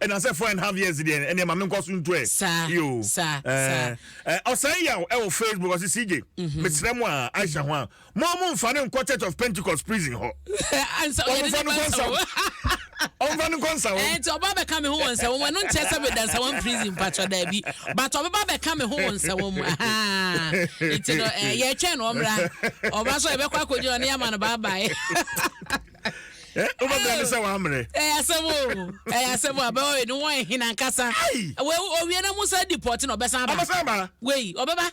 Ɛna sɛ four and half years deɛ ɛneɛ ma menkɔ so ntu ɛ. Saa, Yoo. saa, saa. Ɛɛ, ɛ, ɔsɛe yaw ɛwɔ Facebook ɔse CJ, Mhm. mesrɛ mo a, Aisha ho a, mo mo nfa no nkɔ Church of Pentecost prison hɔ. Ansa Wɔn yɛde nfa ne no ba kɔ nsa Nsawam. wo. Wɔn nfa no kɔ Nsawam. Ɛɛ, nti ɔba bɛka me ho wɔ Nsawam. Ɛno nkyerɛ sɛ meda Nsawam prison mpakyɛ daabi. But ɔbɛba bɛka me ho wɔ Nsawam mu. Ahaa. Nti no, ɛɛ, yɛretwɛn no ɔmmra. Ɔba so a yɛbɛkɔ akɔgyina hɔ na yɛama no bye bye. Eh, wobɛbrɛ ne sɛ wammere ɛyɛ asɛm o ɛyɛ asɛm o abɛwɔ ne wɔn hena nkasa owie na musa di pɔte na ɔbɛsan aba ɔbɛsan aba wei ɔbɛba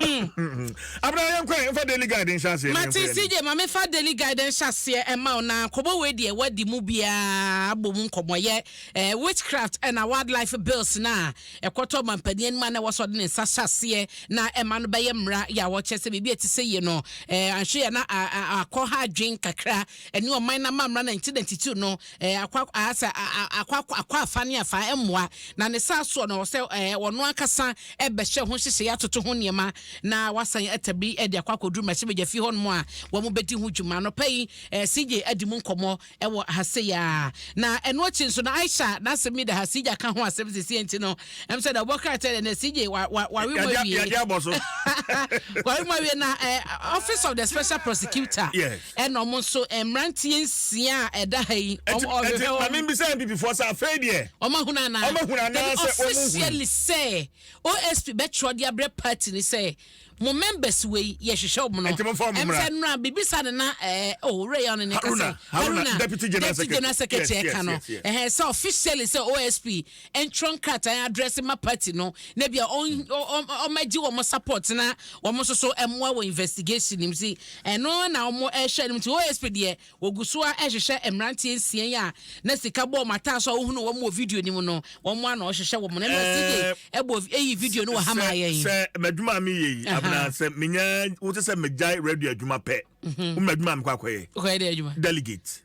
hmm. abena yɛn kwan nfa daily guide nhyɛ aseɛ mate cj ma mefa daily guide nhyɛ aseɛ ɛma wo na kɔbɔ wei deɛ wadi mu biara bɔ mu nkɔmmɔyɛ eh, witchcraft ɛna wildlife bills no a Ɛkɔtɔ ɔmanpanin anim a na ɛwɔ sɛ ɔde ne nsa hyɛ aseɛ na ɛma no bɛyɛ mmara yɛ a wɔkyerɛ sɛ biribi a ɛte sɛ yie no, eh, anhwɛ yɛ na akɔ ha adwen kakra ɛne ɔman no amammara na nti na ntitiw no eh, akɔ asɛ akɔ akɔ afa ne afa mmoa na ne saa soɔ no sɛ eh, ɔno ankasa ɛbɛhyɛ ho hyehyɛ atoto ho nneɛma na wasan atabiri de akɔ akɔduru mmarahyɛbadwafi hɔnom a wɔn bɛdi ho dwuma nɔpa yi eh, CJ adi mu nkɔmmɔ wɔ ha sei ara. Na ɛno akyi nso na Aisha n'asɛm yi da ha, Sija ka ho asɛm sisi nti no, ɛm sɛ na ɔbɔ krataa dɛ na Sija wa wa wari mu awie. Yɛde abɔ so. Wari mu awie na eh, Office of the Special Prosecutor. Yes. Ɛna wɔn nso eh, mmeranteɛ nsia a ɛda ha yi. Ɛti ɛti maame mbisa NPP foɔ sɛ afei deɛ. Wɔn ahuna anaa. Wɔn ahuna anaa sɛ wɔn mu hu. Officially sɛ OSP bɛtwerɛ de abrɛ party ni sɛ mo members wei yɛhwehwɛ wɔn no ɛmfa nnura bibisa no na ɛɛ oh wura yɛ ɔno ne ka sɛ haruna deputy general secretary ɛka no ɛhɛn sɛ officially sɛ osp ntwerɛ nkrataa adrɛse ma party no na bia ɔmɛgye wɔn support na wɔn nso so ɛmoa wɔ investigation nim si ɛno na wɔn ɛhwɛ no nti osp deɛ Wɔgu so ara rehwehwɛ mmeranteɛ nsia yi a na sika bɔ wɔn ataaso a wohunuu wɔn wɔ video no mu no. Wɔn ara na wɔrehwehwɛ wɔn no. Ɛnna CJ bɔ vi eyi video no wɔ ha maa yɛn. Sɛ m'adwuma a meyɛ yi, Abena, sɛ menya wote sɛ megyae radio adwuma pɛ, wo m'adwuma a mekɔ akɔyɛ? Wokɔyɛ dɛ adwuma? Delegate.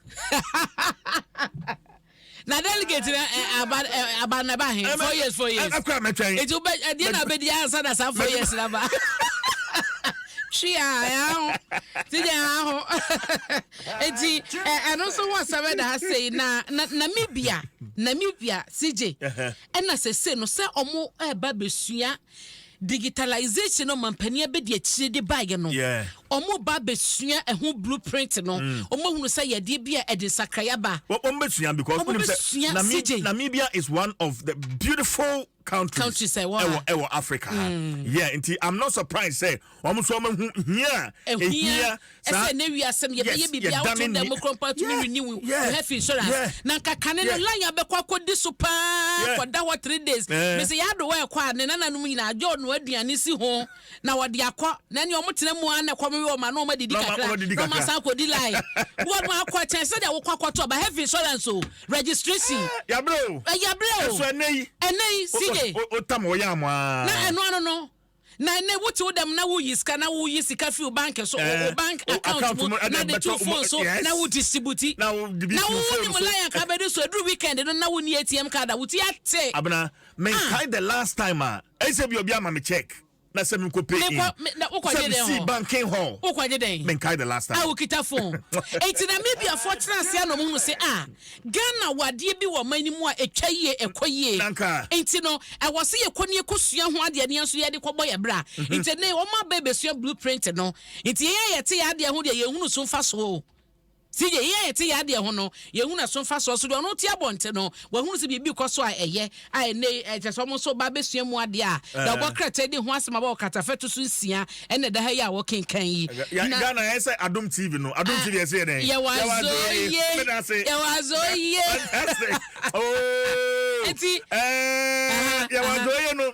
Na delegate no eh, aba eh, aba na ɛba he four years four years. Ɛkɔ a mɛtwɛn. Eti wobɛ ɛdeɛ na wobɛdi ansa na saa four years na ba. Twi a ɛho ti nyɛ ɛho eti ɛ ɛno nso ho asɛm ɛda ha sei na na Namibia Namibia sigye ɛna sese no sɛ ɔmo ɛba besua. Digitalisation no mampanin abɛdi akyire de baeɛ no, wɔreba abɛsua ɛho blue print no, mm. wɔahunu sɛ yadeɛ bi a ɛde nsakraeɛ aba. wɔbɛsua because wonim sɛ Namibia, Namibia is one of the beautiful countries, countries ɛwɔ ɛwɔ Africa ha mm. yeah nti I'm not surprised sɛ Wɔn nso wɔahu hia a ehia saa. Ɛsɛ na ewi asɛm yɛbɛyɛ biribi a wotu dan mu kura mpa tumi renew wo health insurance. Na nka kane no line abɛkɔ akɔdi so paa kɔda hɔ three days. Mese yɛ adowa ɛkɔ a ne nananom nyinaa agye ɔno aduane si ho na wɔde akɔ na ɛne wɔn tena mu a na ɛkɔm yɛ wɔn a na wɔn adidi kakra na wɔn asan akɔdi line. Wɔn akɔ ɛkyɛn sɛdeɛ wokɔ akɔtɔ ba health insurance o registration. Yabere o. Yabere o. Ɛso ɛnɛ yi. Ɛnɛ yi CJ. Otam wɔyɛ amoa. Na ɛno ano no. Na ɛnɛ wo te wo dɛm na wo yi sika na wo yi sika fi wo bank so eh, wo bank account mu na de to phone so na wo distribute na wo wo ni mu lion ka bɛdi so eduru weekend no na wo ni ATM card a wo ti ate. Abena me ah. nkae the last time a ɛsɛ bi obi ama me check na sɛ mi nkɔ pay in sɛ mi si banking hall wokɔgye dɛn mi nkae the last time a wokita phone eti na mi bi afɔ tena ase anɔ mu no se a Ghana wɔ adeɛ bi wɔ ɔman no mu a ɛtwa yie, ɛkɔ yie. Nti no, ɛwɔ sɛ yɛkɔ ne yɛkɔ sua ho adeɛ ne yɛn nso yɛde kɔbɔ yɛn bra. Mhm. Nti ne wɔn aba ɛbɛsua blue print no. Nti yɛn a yɛte yɛn adeɛ ho deɛ yɛhunu so mfa soɔ o. Si deɛ yɛn a yɛte yɛn adeɛ ho no, yɛhunu ɛso mfa soɔ. So deɛ ɔno te abɔnte no, wɔahunu sɛ biribi kɔ so a ɛyɛ. a ɛnnɛ yi kyerɛ sɛ wɔn nso ba abɛsua mu adeɛ a, deɛ wɔbɔ eh. krataa di ho asɛm a wɔwɔ katafɛto so nsia ɛna ɛda ha yi a wɔkenkan yi. Ghana yɛ sɛ Adom TV no, Adom ah, TV yɛ sɛ yɛ dɛn? Yɛwɔ azɔ yie, yɛwɔ azɔ yie. Nti eh, yɛwɔ azɔ yie no,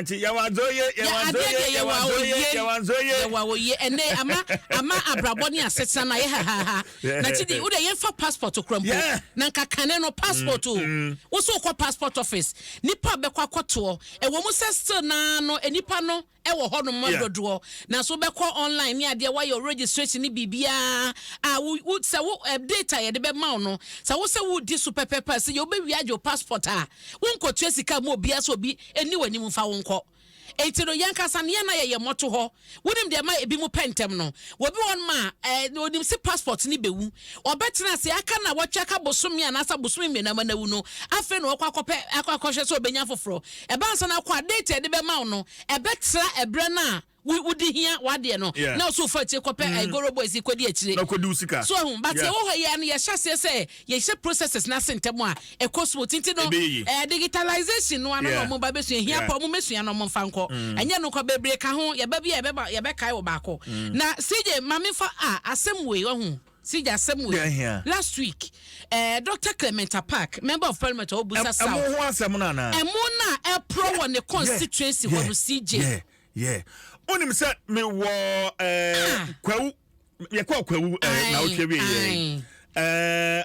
nante yɛwazoye yɛwazoye yɛwazoye yɛwazoye yɛwawoye ɛnɛ ama ama abrabɔ ne asetena na yɛ hahaha na ti di wode yɛmfa passport kura mpo na nka kane no passport o mm, mm. wo so wokɔ passport office nipa bɛkɔ akɔtoɔ ɛwɔ mu sɛ still naa no nipa no ɛwɔ hɔ nom Yeah. dodoɔ na so wobɛkɔ online ne adeɛ woayɛ wo registration ne biribiara a wo, wo sɛ wo eh, date a yɛde bɛma wo no sɛ wo sɛ wodi so pɛpɛpɛ a sɛ yɛ wobɛwie agye wo passport a wonkɔtua sika ma obiara sɛ obi ɛni w'anim mfa wo nkɔ enti no yɛnkasa no yɛn na yɛyɛ mmɔto hɔ wonim deɛ ɛma ebi mu pɛ ntɛm no wɔbi wɔn ma eh, onim se passport ne bɛwu ɔbɛtena ase aka na wɔtwa ka bosome anaasɛ bosome mmienu ama no awu no afei na wɔkɔ akɔpɛ akɔ akɔhwɛ sɛ ɔbɛnya foforɔ Ɛba ansa na akɔ a, date a yɛde bɛma wo no, ɛbɛtra ɛberɛ no a wo wode hia w'adeɛ no Yeah. na wo so wofa akyire kɔpɛ eh, Goro Boys yi kɔdi akyire. Na kɔdi wo sika. So ahu, but Yeah. yɛwɔ hɔ yi ara no yɛhyɛ aseɛ sɛ yɛhyɛ processes no ase ntɛm a, ɛkɔ smooth. Nti no, Ɛbɛyɛ yie. eh, digitalization no ara na Yeah. wɔn ba bɛsua. Ɛhia Yeah. paa, wɔn mmɛsua na wɔn mfa nkɔ. Ɛnyɛ no kwa, bebree ka ho. Yɛba bi a yɛbɛba, yɛbɛkae wɔ baako. Na CJ, ma memfa ah, asɛm wei, wahu. Sigya asɛm wei last week eh, Doctor Clement Apaak member of parliament ɔwɔ Busa South. Ɛmo ho asɛm no anaa? Ɛmo no a ɛporɔ wɔ ne constituency hɔ no CJ. Yeah, yeah. Wonim sɛ me wɔ eh, ah. kwawu, yɛkɔɔ kwawu eh, na wotwe wie yɛ. Eh,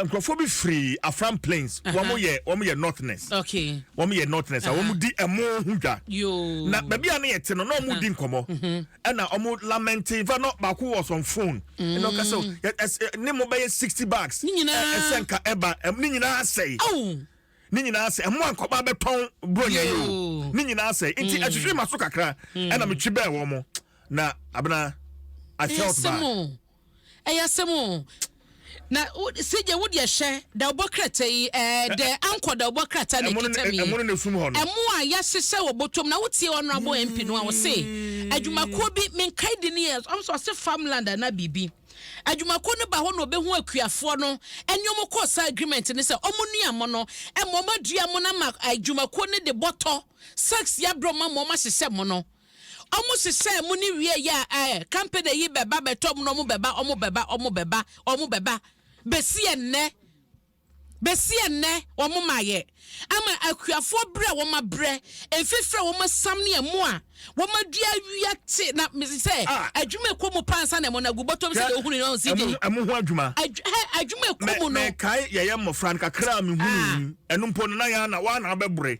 nkurɔfoɔ bi firi Afram Plains, wɔn yɛ wɔn yɛ northness. Okay. Wɔn yɛ northness, a wɔn di ɛmo ho dwa. Yoo. Na baabi a ne yɛ te no, na wɔn di nkɔmɔ. Mhm. ɛna ɔmo lamɛnte nfa no baako was on phone ɛna ɔka sɛ mm. yɛ ne mo bɛyɛ sixty bags ɛsɛ nka ɛba ne nyinaa sɛe ne nyinaa sɛ ɛmo ankɔba bɛtɔn bronya yi o ne nyinaa sɛ nti ɛtwitwi mm. ma so kakra mm. ɛna metwi bɛɛ wɔ mo na abena I felt bad. ɛyɛ asɛm o na sigye wo deɛ hwɛ dawubɔ krataa yi ɛɛ dɛ ankɔ dawubɔ krataa na ekita mi ɛmo no na efum hɔ no ɛmo a yɛahyehyɛ wɔ bɔtɔm na wotie ɔnrabɔ mp no a ɔse hmm. adwumakuo bi menkae di ne yɛ ɔnso ɔse farmland ana biribi adwumakuo no ba hɔ na ɔbɛhu akuafoɔ no ɛne ɔmo kɔ saa agreement ne sɛ ɔmo nua mo no ɛma ɔmo adua mo no ama adwumakuo no de bɔtɔ sex yɛ abrɛ ɔmo ama ɔmo ahyehyɛ mo no Ɔmo sesaa mu ne wiee yɛ a ɛɛ company yi bɛba bɛtɔ mu na ɔmo bɛba ɔmo bɛba ɔmo bɛba ɔmo bɛba besi ɛnnɛ besi ɛnnɛ ɔmo ma yɛ ama akuafoɔ brɛ a wɔn abrɛ mfifiri a wɔn asam ne ɛmo a wɔn adua awia te na mesi sɛ Ah. adwuma ɛkɔ mu paa nsa na ɛmo na gu bɔtɔ mu sɛ Hwɛ, deɛ ohunu no ɔnsi de ɛmo ɛmo ho adwuma. adw hɛ adwuma ɛkɔ Me mu no mekae yɛyɛ mmɔfra no kakra a mehunuu Ah. mu. Ɛno mpo no na yɛn ana wɔn ana abɛbrɛ.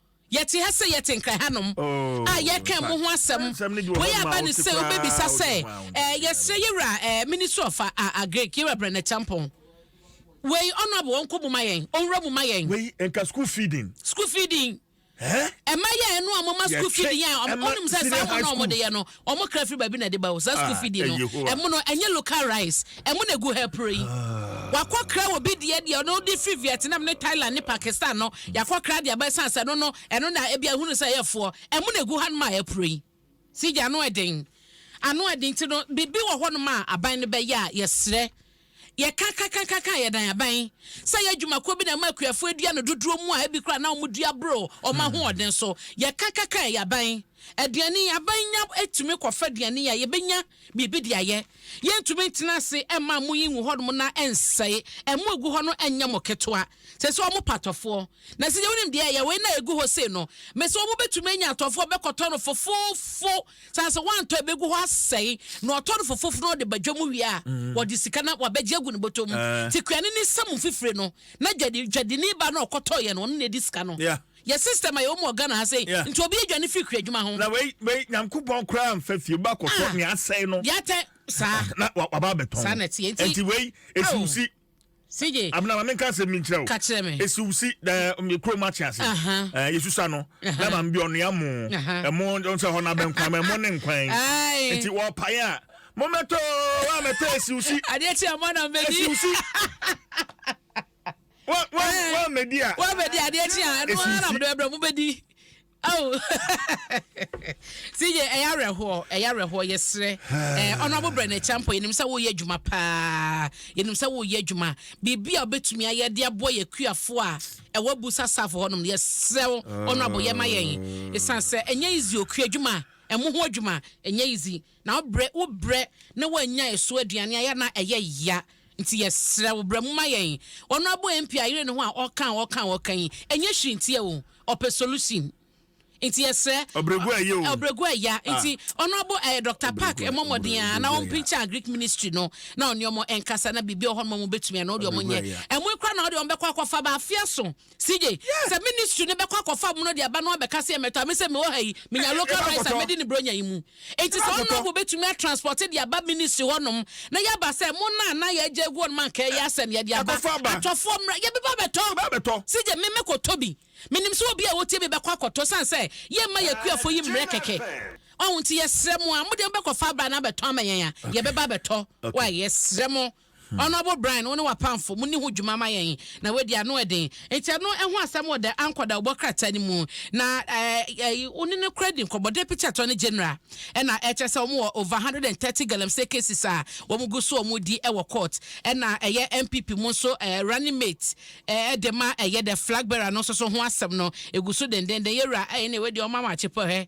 Yɛte ha sɛ yɛte nkra hanom a yɛreka mo ho asɛm. Wei aba no sɛ wobɛbisa sɛ, eh, yɛsrɛ yɛwura eh, Ministry of uh, uh, Agric, yɛwura Brɛnɛ Kyampɔn. Wei honorable ɔnkɔ mu ma yɛn, ɔnwura mu ma yɛn. Wei nka school feeding. School feeding. Eh? Ɛma yɛ ɛno a mo ma school feeding a ɔnom sɛ saa mo na ɔmo de yɛ no ɔmo kra firi baabi na ɛde ba o saa school ah, fee di no eh, ɛmo no ɛnyɛ local rice ɛmo na egu ha puro yi ah. wakɔ kra wɔ bi deɛ deɛ ɔno de firi Vietnam ne Thailand ne Pakistan no yakɔ kra deɛ abɛɛ san sɛ no no ɛno na ebi ahunu sɛ ɛyɛ foɔ ɛmo na egu ha no ma ɛpuro yi si gya ano ɛden ano ɛden ti no biribi wɔ hɔ no ma aban no bɛyɛ a yɛsrɛ Yɛka ka ka ka ka a yɛdan aban sɛ ɛyɛ adwumakuo bi na ɛma akuafoɔ adua no dodoɔ mu a ɛbi koraa na wɔn dua boro wɔn ahoɔden so. Yɛka ka ka a ɛyɛ aban. Aduane, aban nya tumi kɔfa aduane a yɛbɛnya biribi de ayɛ. Yɛntumi ntena ase mma amo yi ngu hɔ nom na ɛnsɛe. Ɛmo ɛgu hɔ no ɛnyɛ mo ketewa. Sɛsɛ wɔn pɛ atɔfoɔ. Na sɛ yɛwonim deɛ ɛyɛ wei na ɛgu hɔ sei no, mese wɔn bɛtumi anya atɔfoɔ bɛkɔtɔ no fofofo. San sɛ wantɔ ebegu hɔ asɛe na ɔtɔ no fofofo na ɔde ba dwa mu wie a mm. wɔde sika na wabɛgye agu ne bɔtɔ mu eh. ti kura ne ne nsam mfifire no na dwadi dwadini ba na ɔkɔtɔ yɛ no ɔno na edi sika no yɛ system a yɛwɔ mu ɔgana ha sɛ nti obi adwa ne firi kura adwuma ho. na wei wei nyankopɔn koraa nfa fie ba kɔtɔ ah. ne asɛe no. yɛatɛ saa na waba abɛtɔn saa na ɛteɛ nti wei esi oh. si. CJ. Abena ma menka asɛm bi nkyerɛ wo. Ka kyerɛ me. Esi wo si da me kuro mu akye ase. Eh Yesusa no. Na ma mbi ɔnoa mo. Ɛmo nsɛ hɔ na bɛnkwan ma ɛmo ne nkwan. Nti wɔ pae a mo mɛtɔ wa mɛtɔ esi wo si. Adeɛ kye ɛmo na mbɛdi. Esi wo si. Wa wa wa mɛdi a. Wa mɛdi adeɛ kye a ɛno ara na mde bɛbrɛ mo bɛdi. Oh CJ ɛyɛ awerɛhoɔ ɛyɛ awerɛhoɔ yɛsrɛ ɛɛ ɔnoabo brɛ no akyira mpo yɛnim sɛ woyɛ adwuma paa yɛnim sɛ woyɛ adwuma biribi a wobɛtumi ayɛ de aboa yɛ kuafoɔ a ɛwɔ bu sasafo hɔ nom yɛsrɛ wo ɔnoabo yɛ ma yɛn ɛsiane sɛ ɛnyɛ izi okua adwuma ɛmo ho adwuma ɛnyɛ izi Na wo brɛ wo brɛ na woannya ɛso aduane ayɛ na ɛyɛ ya nti yɛsrɛ wo bra mu ma yɛn. Ɔno abɔ MP ayere ne ho a ɔka a ɔka a ɔka yi ɛnyɛ hwee ntia o ɔpɛ solution nti yɛsrɛ Ɔbrɛgu ayɛ o. Ɔbrɛgu aya Ah. nti ɔno abɔ ɛɛ Doctor Park Ɔbrɛgu a- mmɔ mmɔden ɔbrɛ- ara na ɔbrɛgu aya. ɔmpinkya Agric Ministry no na ɔne ɔmo ɛnkasa na biribi wɔ hɔ nom a ɔmo bɛtumi a na ɔde ɔmo Ɔbrɛgu nyɛ. aya. Ɛmoe koraa na ɔde ɔmo bɛkɔ akɔfa ba afeɛ so CJ, Sɛ ministry no bɛkɔ akɔfa mono de aba na wabɛka sɛ yɛmmɛtɔ a, me sɛ mewɔ ha yi, menya local rice a mɛdi ne Buronya yi mu. Enti sɛ Honourable bɛtumi a transport de aba ministry hɔ nom na yɛaba sɛ mo no a na yɛagya agu hɔ nom anka ɛyɛ a sɛn yɛde aba? Atɔfoɔ mmra, yɛbɛba abɛtɔ. CJ, me mɛkɔtɔ bi. Menim sɛ obi a ɔwɔ Tiebi bɛkɔ akɔtɔ ɛsiane sɛ yɛmma yɛn akuafoɔ yi mmrɛ kɛkɛ. Wahu? Nti yɛsrɛ mo a, mode mobɛkɔfa abra na abɛtɔ ama yɛn a, yɛbɛba abɛtɔ. Wae? Yɛsrɛ mo. Honourable Brian wo ne w'apamfo monni ho dwuma ma yɛn na wadi ano ɛden nti ɛno ho asɛm wɔ the Anchor dawubɔ krataa no mu na ɛɛ wo ne no kora di nkɔmmɔ Deputy Attorney General ɛna ɛkyerɛ sɛ wɔn wɔ over hundred and thirty galamsey cases a wɔn gu so wɔn di ɛwɔ court ɛna ɛyɛ NPP mu nso ɛɛ running mate ɛɛ de ma ɛyɛ the flag bearer no nso so ho asɛm no egu so dendenden yɛwura ɛyɛ na ɛwɔ di wɔn ama akyepɔ hɛ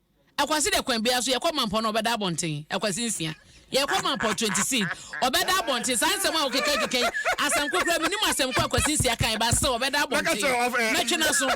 Akwasi dɛ kwan biara so yɛkɔ mampɔw na ɔbɛda abɔnten. Akwasi nsia. Yɛkɔ mampɔw twenty seed. Ɔbɛda abɔnten. Saa nsɛm a wokeka keka yi, asɛmko koraa minim asɛm ko a Akwasi nsia kae ba se ɔbɛda abɔnten. Mɛtwe n'aso.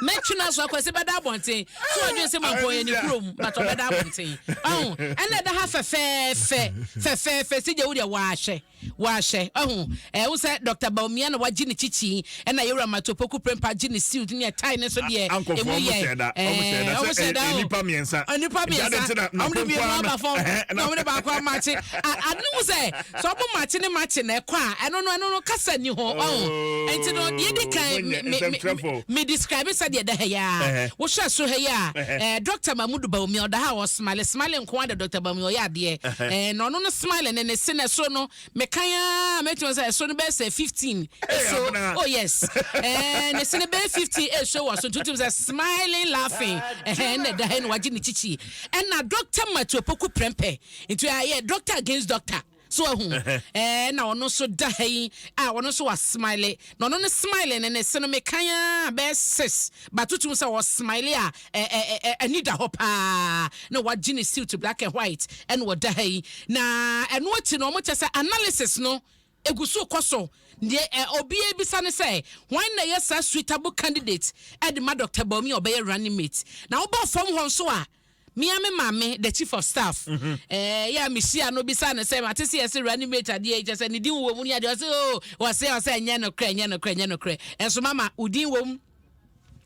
Mɛtwe n'aso. Akwasi bɛda abɔnten. So wadwen se mampɔw yɛ ne kurom? But ɔbɛda abɔnten. Ɔho? Ɛna ɛda ha fɛfɛɛfɛ. Fɛfɛɛfɛ. Sigye wo deɛ woahwɛ. wɔahyɛ. Wahu? Ɛɛ, wohu sɛ Dɔkta Bawumia na wagye ne kyikyi, ɛna Yɛwura Mato Opoku Prempah gye ne suit ne ɛtae no nso deɛ ɛmu yɛ. Ɛɛ, wɔn hyɛɛ da sɛ ɛyɛ nnipa mmiɛnsa. Nnipa mmiɛnsa. Wɔn de mmienu aba fam, ɛna wɔn de baako amakye. Ade no mu sɛ, sɛ wɔn makye ne makye na ɛkɔ a, ɛno no, ɛno no, kasa nni ho. Wahu? Nti no, deɛ edi kan, me, me, me, me describe sɛdeɛ ɛda ha yi ara. Wohwɛ so ha yi a, ɛɛ, Dɔkta Mahmood Bawumia, ɔda ha a, ɔwɔ. Smile smile nkoaa da Doctor Bawumia ɔyɛ adeɛ ɛɛn na ɔno no smile ne ne se na ɛsoro no me kan aa mɛtumi aka sɛ ɛsoro no bɛyɛ sɛ fifteen ɛso oh yes ɛɛn ne se no bɛyɛ fifteen ɛso wɔ so nti wotumi sɛ smiling laughing ɛhɛn ɛna ɛda ha ɛna wagye ne kyikyi ɛna Doctor Matthew Opoku Prempeh nti ayɛ Doctor against Doctor So wahu? Ɛɛ, na ɔno nso da ha yi a ɔno nso wa smile. Na ɔno ne smile ne ne se no mekan a bɛyɛ six. Ba tutum sɛ ɔ smile a ɛ ɛ ɛ ani da hɔ paa. Na wagye ne suit black and white ɛna ɔda ha yi. Na ɛno akyi no ɔmo kyɛ sɛ analysis no egu so kɔ so. Deɛ ɛ obi ebisa ne sɛ hwan na ɛyɛ saa suitable candidate ɛde ma Doctor Bawumia ɔbɛyɛ running mate. Na wobaa fam hɔ nso a. Me ara me maame, the chief of staff, eh, yɛ a mehyia no bisa no sɛ mate sɛ yɛse reanimate adeɛ yi kyɛ sɛ ne din wɔ mu ne adeɛ ɔse o ɔse ɔsɛ ɛnyɛ nokorɛ ɛnyɛ nokorɛ ɛnyɛ nokorɛ ɛnso mama wo din wɔ mu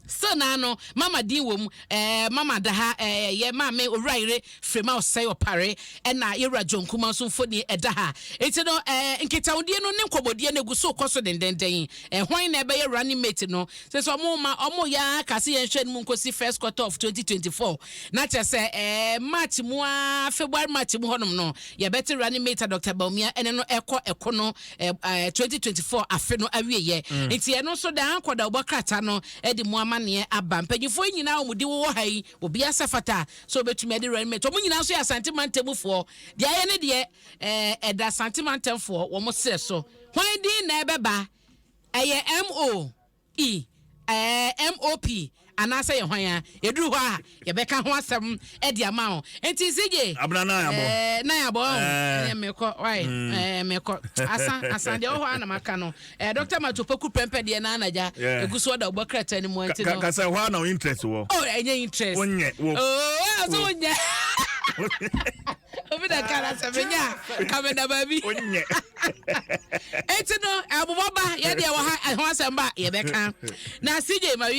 still naa no mama din wɔ mu eh, mama da ha eh, yɛ maame owura yere firima ɔsɛe ɔpare ɛna yɛwura john kuma nso mfoni ɛda ha nti no eh, nkitahodie no ne nkɔmmɔdie no egu so kɔ so dendenden eh, hwan na ɛbɛyɛ running mate no Sɛ sɛ ɔmo ma ɔmo yɛ ara ka sɛ yɛn hwɛ no mu nkosi first quarter of twenty twenty four, na kyerɛ sɛ ɛɛ March mu ara, February March mu hɔnom no, yɛbɛte running mate a Doctor Bawumia ɛne no ɛkɔ ɛko no ɛɛ twenty twenty four afe no awieɛ. Mm. Nti ɛno nso daa nkɔdawbɔ krataa no ɛde mu amaneɛ aba. Mpanyinfoɔ yi nyinaa a wɔn di wowɔ ha yi, obiara sɛ fata sɛ ɔbɛtumi ɛde running mate. Wɔn nyinaa nso yɛ Asante Mantamufoɔ. Deɛ ayɛ ne deɛ ɛɛ ɛda Asante Mantamfoɔ wɔn serɛ so. Hwan din na ɛbɛba? Ɛyɛ MO, E, ɛɛ, MOP, anaasɛ yɛ hwan a? Yɛduru hɔ a, yɛbɛka ho asɛm de ama wo. Nti CJ, Abena nan abɔ. ɛɛ, nan abɔ, ɔn, Ɛɛ. ɛɛ, mekɔ, wai, ɛɛ, mekɔ. Asa, asa, deɛ ɛwɔ hɔ ara na maka no. Ɛɛ, Doctor Mato Poku Prɛmpɛ deɛ na anagya Yeah. ɛgu so ɔda ɔbɔ krataa no mu, Ka, nti ka, no. ka sɛ hɔ ara na wo interest wɔ. Oh, ɛnyɛ interest. Wonyɛ, wo. Oh, ɔyɛ ɔsɛ Wo. wonyɛ. obi na ka na sɛ menya a ka meda baabi onyɛ eti no ɛbobɔ ba yɛ deɛ wɔ ha ɛho asɛm ba yɛbɛka na sigye ma wie